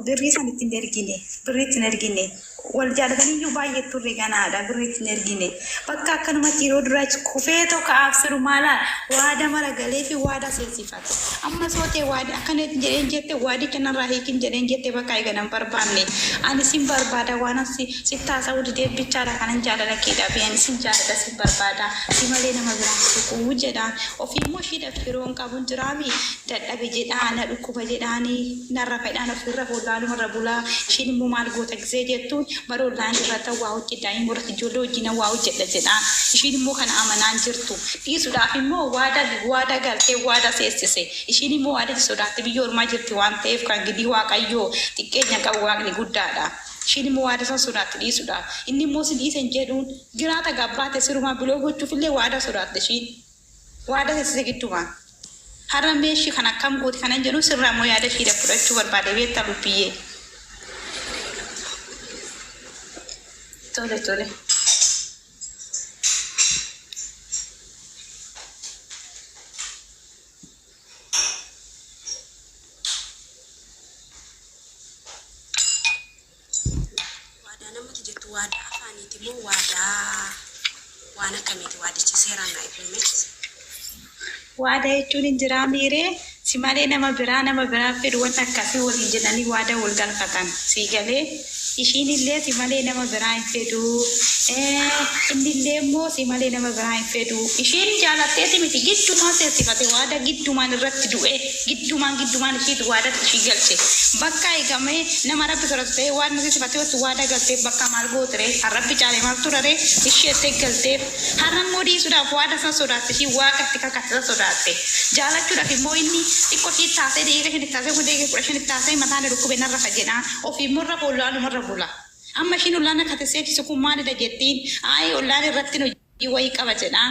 Birrii san itti hin ergine. Birrii itti hin ergine. Wal jaalataniyyuu baay'ee turre ganaadha. Birrii itti hin ergine. Bakka akkanumatti yeroo duraa achi kufee tokko absiru maalaa waada mara galee fi waada seensifate. Amma sootee waadi akkana itti jedheen jette waadicha narraa hiikin jedheen jette bakka eega nan barbaanne. Ani sin barbaada waanan si sitti haasa'uu didee bichaadha kanan jaalala kee dhabe ani sin jaalladha sin barbaada si malee nama biraan hin tuquu jedhaan ofii immoo ishiidhaaf firoon qabun jiraami dadhabe jedhaa na dhukkuba jedhaanii Narra fedhaan of irra wallaaluma irra bulaa ishiin immoo maal goota gizee jettuun bara online irrattan waa hojjedha imo irratti ijoollee wajjinan waa hojjedha jedhaan ishiin immoo kana amanaa hin jirtu dhiisudhaaf immoo waada waada galtee waada seessise ishiin immoo waadatti sodaatti biyya ormaa jirti waan ta'eef kan gidii waaqayyoo xiqqeenya qabu waaqni guddaadha ishiin immoo waada san sodaatti dhiisudhaaf inni immoo sin dhiise hin jedhuun jiraata gabbaate sirumaa biloo gochuuf illee waada sodaatte ishiin Waada sesise gidduma. Har'a mee ishii kan akkam gooti kanan jedhu sirraa immoo yaada ishiidha fudhachuu barbaade beektaa lubbiyyee. Tole tole. Waadaa waadaa namatti jettu waadaa afaaniiti moo waadaa waan akkamiiti waadichi seeraan naa ibsuume. Waada jechuun hin jiraa miiree si malee nama biraa nama biraa fedhu wanta akkasii waliin jedhanii waada wal galfatan sii galee ishiin illee si malee nama biraa hin fedhuu inni illee immoo si malee nama biraa hin fedhuu ishiin jaalatteeti miti giddumaan seensifate waada giddumaan irratti du'e. Giddumaan giddumaan ishiit waadatti ishii galche. Bakkaa egaa mee nama Rabbi sodatu ta'ee waan nuti sifatee otti waadaa galteef bakkaa maal goote ree? Kan Rabbi caale maaltu jira ree? Ishii jettee galteef. Har'a immoo dhiisuudhaaf waada san sodaatte ishii Waaqa itti kakatte san sodaatte. Jaalachuudhaaf immoo inni xiqqo ishii itti haasa'ee daqiiqa shan itti haasa'ee hundee kee kudha shan itti haasa'ee mataa na dhukkube na rafa jedha. Ofii immoo irra fool'aanuma irra bula. Amma ishiin ollaan akka ati seeksisu kun maalidha jettiin? Aayii ollaan irratti nu. i wayi qaba jedha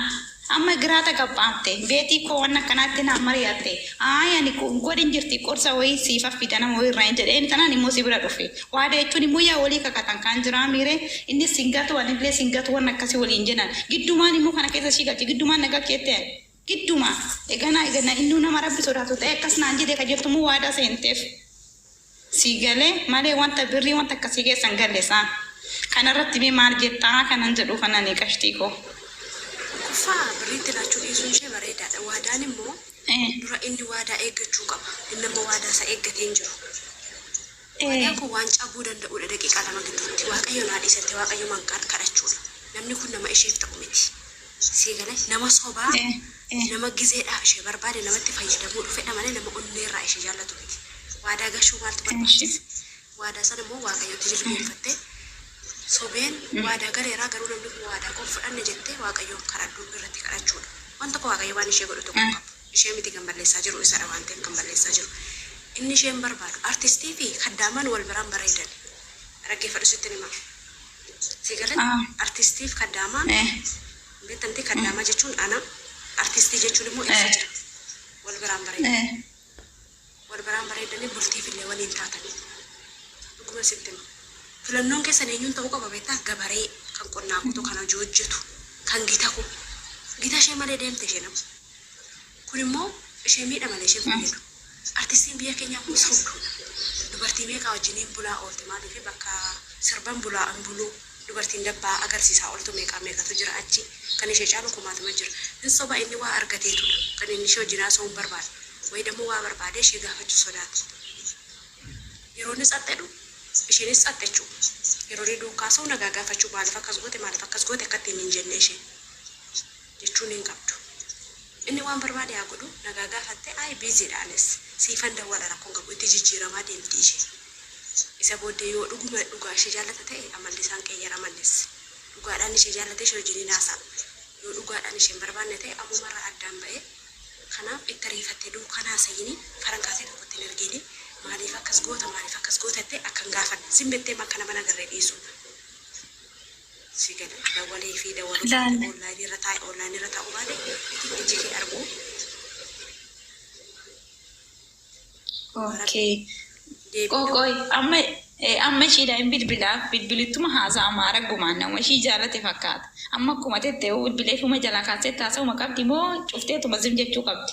amma giraa tagaphaafte beetii koo wanna akkanaatti naan mariyatte ayi ani kun godhin jirti qorsa wayii siif affida nama wayii irraa hin jedhe inni tanaan immoo si bira dhufe waada jechuun immoo yaa walii kakatan kaan jiraa miire innis sin gatu anillee sin gatu wanna akkasi waliin jenan giddumaan immoo kana keessa ishii galche giddumaan na galcheette ani Idduma eganaa eganna innuu nama rabbi sodaatu ta'ee akkas naan jedhe ka jettu moo waadaa seenteef sii gale malee wanta birrii wanta akkasii keessa hin galle saa kana irratti mee maal jettaa kanan jedhuuf anani qashtii koo. Tokkoffaa birrii itti laachuu dhiisuun ishee bareedaadha waadaan immoo Ee. dura inni waadaa eeggachuu qaba inni amma waadaa isaa eeggatee hin jiru. Obboleeyyan kun waan cabuu danda'uudha daqiiqaa lama gidduutti waaqayyo naa dhiisa jettee waaqayyumaan kadhachuudha namni kun nama isheef ta'u miti sii galee nama sobaa nama gizeedhaaf ishee barbaade namatti fayyadamuu dhufedha malee nama onneerraa ishee jaallatu miti waadaa gashuu maaltu barbaachise waadaa sana immoo waaqayyotti jilbeenfattee sobeen waadaa galeeraa garuu namni kun waadaa koo hin fudhanne jettee waaqayyoon kadhadhuu irratti kadhachuudha waan tokko waaqayyo waan ishee godhu tokko hin qabu. Ishee miti kan balleessaa jiru isadha waan ta'eef kan balleessaa jiru inni isheen barbaadu artistii fi kaddaamaan wal biraan bareedani raggeeffadhu sittin himaa sii galee artistii fi kaddaamaan beekta miti kaddaamaa jechuun ana artistii jechuun immoo ibsa jira wal biraan bareedani. Wal baraan bareeddanii bultiifillee waliin taatanii. Dhuguman sitti hima. Filannoon keessan eenyuun ta'uu qaba beektaa? Gabaree, kan qonnaa qotu, kan hojii hojjetu, kan gita koo. Gita ishee malee deemte isheen amma. Kun immoo ishee miidha malee ishee hin fayyadu. Artistiin biyya keenyaa kun sobduudha. Dubartii meeqaa wajjiniin bulaa oolti maaliif bakka sirban bulaa hin buluu. Dubartiin dabbaa agarsiisaa oltu meeqaa meeqatu jira achi. Kan ishee caalu kumaatama jira. Hin soba inni waa argateetudha. Kan inni ishee wajjin haasa'uun barbaadu. Wayidammoo waa barbaadee ishee gaafachuu sodaatti. Yeroo inni tsat jedhu isheenis tsat jechuu. Yeroo inni duukkaa haasa'u nagaa gaafachuu maaliif akkas goote maaliif akkas goote akka ittiin hin jenne isheen. jechuun hin qabdu. Inni waan barbaade haa godhu nagaa gaafatte I busy dha anis siifan dawwala rakkoon qabu itti jijjiiramaa deemti ishee. Isa booddee yoo dhuguma dhugaa ishee jaallata ta'e amalli isaan qeeyyarama innis. Dhugaadhaan ishee jaallatee ishee wajjin hin haasa'u. Yoo dhugaadhaan ishee hin barbaanne ta'e ammumarraa addaan ba'ee kanaaf itti ariifattee duukaan haasayini faran kaasee tokkotti hin ergiini maaliif akkas goota maaliif akkas goota jettee akka hin gaafanne zim jetteema akka nama hin agarree dhiisuu. si gale dawale fi dawalo Ilaali. online irra taa'i online irra taa'u baate itti iji kee arguu ok deebi'u qoqoy amma eh, amma ishiidha hin bilbilaaf bilbilittuma haasaa amma araggumaan nama ishii jaalate fakkaata amma akkuma tette bilbileefuma jalaa kaasee taasa'uma qabdi moo cufteetuma zim jechuu qabdi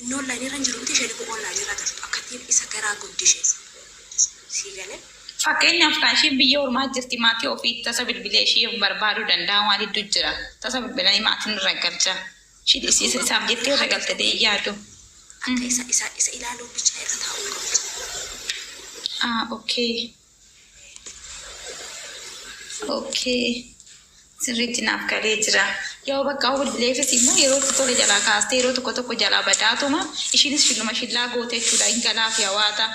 Inni online irra hin jiru miti isheen immoo online irra jirtu akka ittiin isa garaa gubdi isheen sii galee. Fakkeenyaaf kaa ishiin biyya ormaa jirti maatii ofii tasa bilbilee ishii of barbaaduu danda'a waan hedduu jira tasa bilbilanii maatiin irra galcha ishiin is- is- isaaf jettee irra galte ta'ee yaadu. Akka isa isa isa ilaaluun bicha irra taa'uu hin qabu. Ah, okay. Ookee. Sirriitti naaf galee jira. Yoo bakka hawwilleefis immoo yeroo itti tole jalaa kaastee yeroo tokko tokko jalaa badaatuma ishiinis shilluma shillaa goote jechuudha hin galaaf yawaata.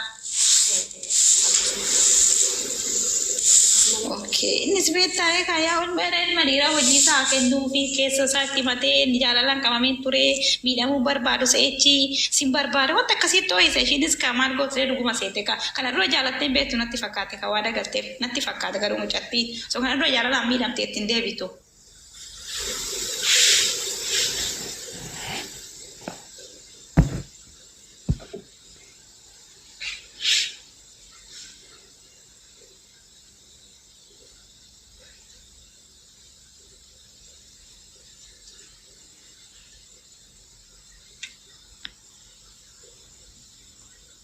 Ookee. Innis beektaa eegaa yaa ol meera ilma dhiiraa hojii isaa kennuu fi keessa isaa itti matee inni jaalalaan qabameen ture miidhamuu barbaadu se'echi sin barbaada wanta akkasiitti ho'isa ishiinis kaa maal gootee dhuguma seete kaa Kana dura jaalattee hin beektu natti fakkaatti kan waada galteef natti fakkaata garuu mucattiin osoo kana dura jaalalaan miidhamte itti hin deebitu.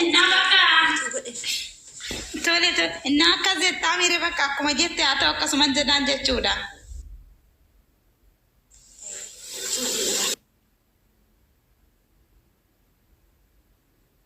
Innaa bakka tole tole innaa akkas jettaa miire bakka akkuma jette haa ta'u akkasuman jedhaan jechuudha.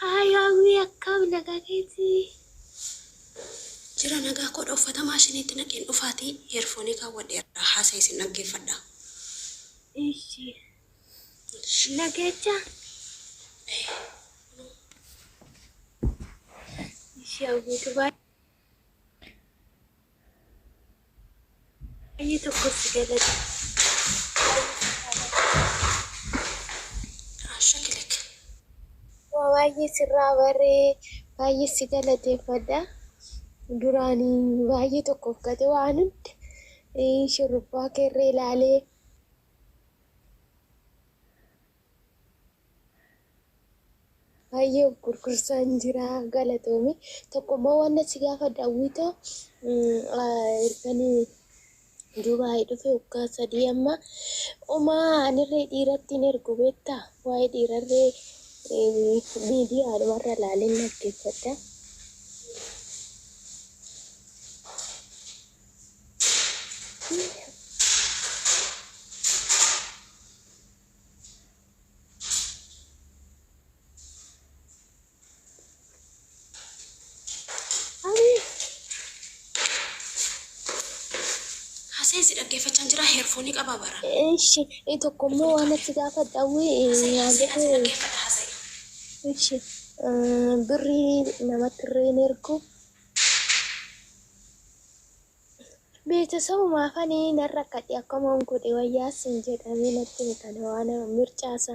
Haay hawwii akkam nagaa keetii. Jira nagaa koodha uffata maashiniitti naqeen dhufaati heerfoonii kaawwadheera haasa'e isin dhaggeeffadha. Ishi. Nageecha. Ishi hawwiitu baay'ee. Baay'ee tokkotti galata. Ashakilek. Waa baay'ee sirraa barree baay'ee si galateeffadha. Duraan baay'ee tokkoof gate waan hunda eh, shurrubbaa keerree ilaalee Baay'ee of gurgursaan jira galatoomi. Tokko immoo waan achi gaafa daawwita erganii Dubaay dhufe waggaa sadii amma omaa anirree dhiiratti hin ergu beekta waa'ee dhiirarree miidiyaa dhumarra laaleen dhaggeeffadha. Haaseensi dhaggeeffachaan jira heerfoonii qabaa bara. Eshi tokko immoo waan natti gaafadha wii Eshi birrii namatti irreen ergu Beetasabuma afani nan rakkadhe akkaman godhe wayya sin jedha mee natti himi kana waana mircaa sa.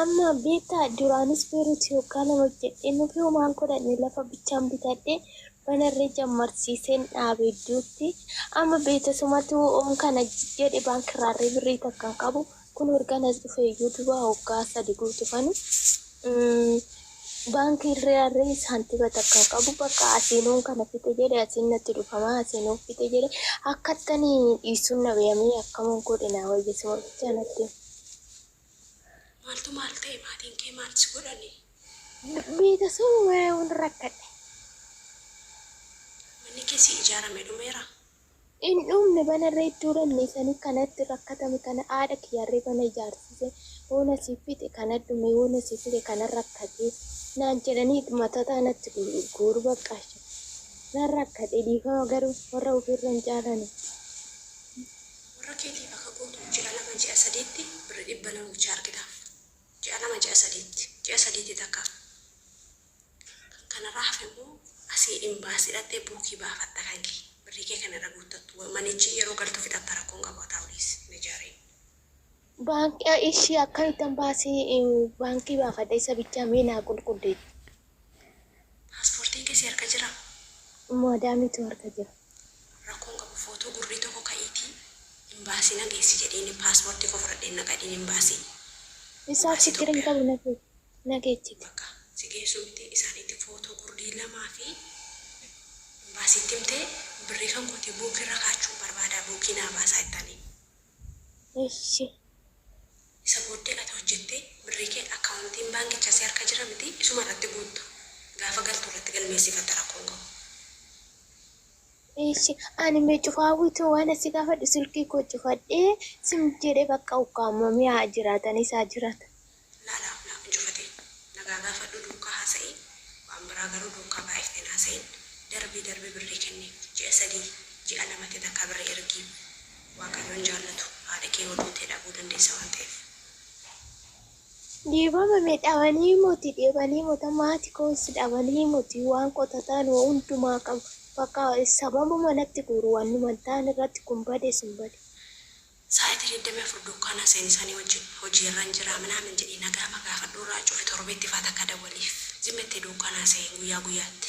Amma beektaa duraanis beeruuti yoggaa lama hojjedhee nufi homaan godhanne lafa bichaan bitadhe banarree jammarsiiseen dhaabe idduutti amma beetasumatu oon kana jedhe baankirraarree birrii takkan qabu kun ergan as dhufe iyyuu duba hoggaa sadi guutufanu baankiirraarree saantiba takkan qabu bakka asiinoon kana fixe jedhe asiin natti dhufama asiinoon fixe jedhe akkattanii dhiisuun na beeyamee akkaman godhe naa wayya suma bichaa natti Maaltu maal ta'e maatiin kee maal si godhani? Beeta summaa'uun rakkadhe. Manni kee si ijaarame dhumeera? Hin dhumne bana irra iddoo dhabne isanii kanatti rakkatame kana haadha kiyyarree bana ijaarsise hoona siif fixe kana dhume hoona siif fixe kana rakkate naan jedhanii matataa natti guuru baqqaasha nan rakkate dhiifama garuu warra ofirra hin caalani. Warra keetiif akka guutuu ji'a lama ji'a sadiitti birri dhibba lama bichaa argitaaf. Ji'a lama ji'a sadiitti. Ji'a sadiitti takka. Kan kanarraa hafe immoo asii imbaasii dhaqxee buukii baafatta kan kee. Birrii kee kan irra guuttattu. Manichi yeroo galtu fixatta rakkoo hin qabu haa taa'u dhiisi hin ijaariin. Baankii ishii akkamittan baasii baankii baafadha isa bichaa mee naa qulqulleessi. Pasportiin kee si harka jiraa? Maadaamiitu harka jira. Rakkoo hin qabu footoo gurrii tokko ka'iitii imbaasii na geessi jedhiini pasportii koo fudhadheen na gadhiin imbaasii. Isaaf chiggiri hin qabu na geechiti. Bakka si geessu miti isaaniitti footoo gurrii lamaa fi imbaasiitti himtee birrii kan kootii buukii irra kaachuun barbaadaa buukii naa baasaa ittaaniin. Eshi. Isa booddee ati hojjettee birrii kee akkaawontiin baankichaa si harka jira mitii isuma irratti guutta. Gaafa galtu irratti galmeessifatta rakkoo hin qabu. Eshi ani me cufa hawwitu wana si gafadhu silki ko cufadhe sim jedhe bakka ukkaamame me haa jiratani saa jirata. Lala na cufate nagaa gaafadhu duukkaa haasa'ii waan biraa garuu duukkaa baay'ifte hin haasa'iin darbii darbi birrii kenniif ji'a sadii ji'a lamatti takkaa birrii ergiif. Waaqayyo hin jaallatu. Haadha kee yoo duute dhabuu dandeessa waan ta'eef. Dheebama me dhabanii moti dheebanii mota maati koos dhabanii moti waan qotataan wa hundumaa qabu bakka sababuma natti guuru wannuman taan irratti kun bade sun bade. Sa'aiti 24 duukaana seeni isaani wajjin hojii irran jira minaamin jedhii nagaama gaafadhu irraa cufi torbeetti faa takka dawwaliif. Zim jettee duukaana seeni guyyaa guyyaatti.